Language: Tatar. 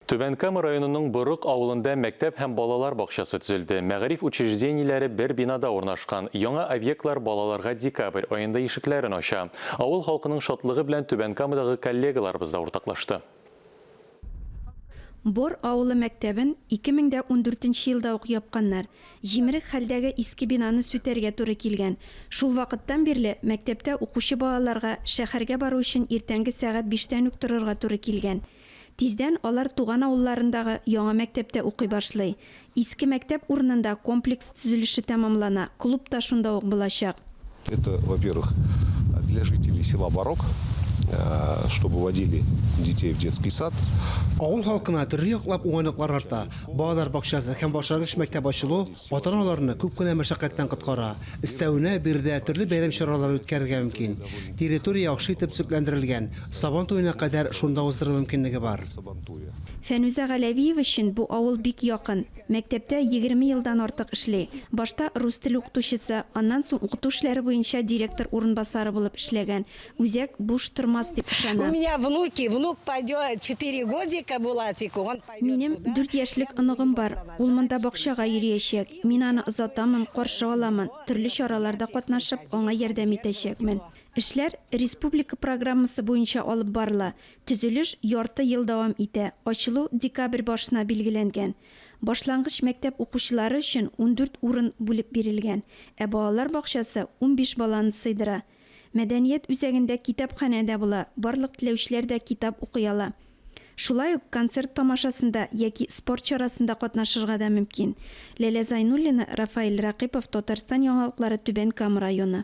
Түбән Кама районының Борык авылында мәктәп һәм балалар бакчасы төзелде. Мәгариф учреждениеләре бер бинада урнашкан. Яңа объектлар балаларга декабрь аенда ишекләрен ача. Авыл халкының шатлыгы белән Түбән Камадагы коллегаларыбыз да уртаклашты. Бор авылы мәктәбен 2014 нче елда ук япканнар. Җимерек хәлдәге иске бинаны сүтәргә туры килгән. Шул вакыттан бирле мәктәптә укучы балаларга шәһәргә бару өчен иртәнге сәгать биштән үк торырга туры килгән. Тиздән алар туган авылларындагы яңа мәктәптә укый башлый. Иске мәктәп урынында комплекс төзелеше тәмамлана, клуб та шунда ук булачак. Это, во-первых, для жителей села Барок, чтобы водили детей в детский сад. Авыл халкына төрле яклап уңайлыклар арта, балалар бакчасы һәм башлангыч мәктәп ачылу, Ата-аналарны күп кенә мәшәкатьтән коткара. Өстәвенә, биредә төрле бәйрәм чаралары үткәрергә мөмкин. Территория яхшы итеп төзекләндерелгән, Сабан туена кадәр шунда уздыру мөмкинлеге бар. Фәнүзә Галәвиева өчен бу авыл бик якын. Мәктәптә егерме елдан артык эшли. Башта рус теле укытучысы, аннан соң укыту эшләре буенча директор урынбасары булып эшләгән. Үзәк буш тормас дип ышанам. Минем дүрт яшьлек оныгым бар. Ул монда бакчага йөриячәк. Мин аны озатамын, каршы аламын, төрле чараларда катнашып, аңа ярдәм итәчәкмен. Эшләр республика программасы буенча алып барыла. Төзелеш ярты ел дәвам итә. Ачылу декабрь башына билгеләнгән. Башлангыч мәктәп укучылары өчен ундүрт урын бүлеп бирелгән. Ә балалар бакчасы унбиш баланы сыйдыра. Мәдәният үзәгендә китапханә дә була, барлык теләүчеләр дә китап укый ала. Шулай ук концерт тамашасында яки спорт чарасында катнашырга да мөмкин. Ләлә Зайнуллина, Рафаэль Ракыйпов, Татарстан яңалыклары, Түбән Кама районы.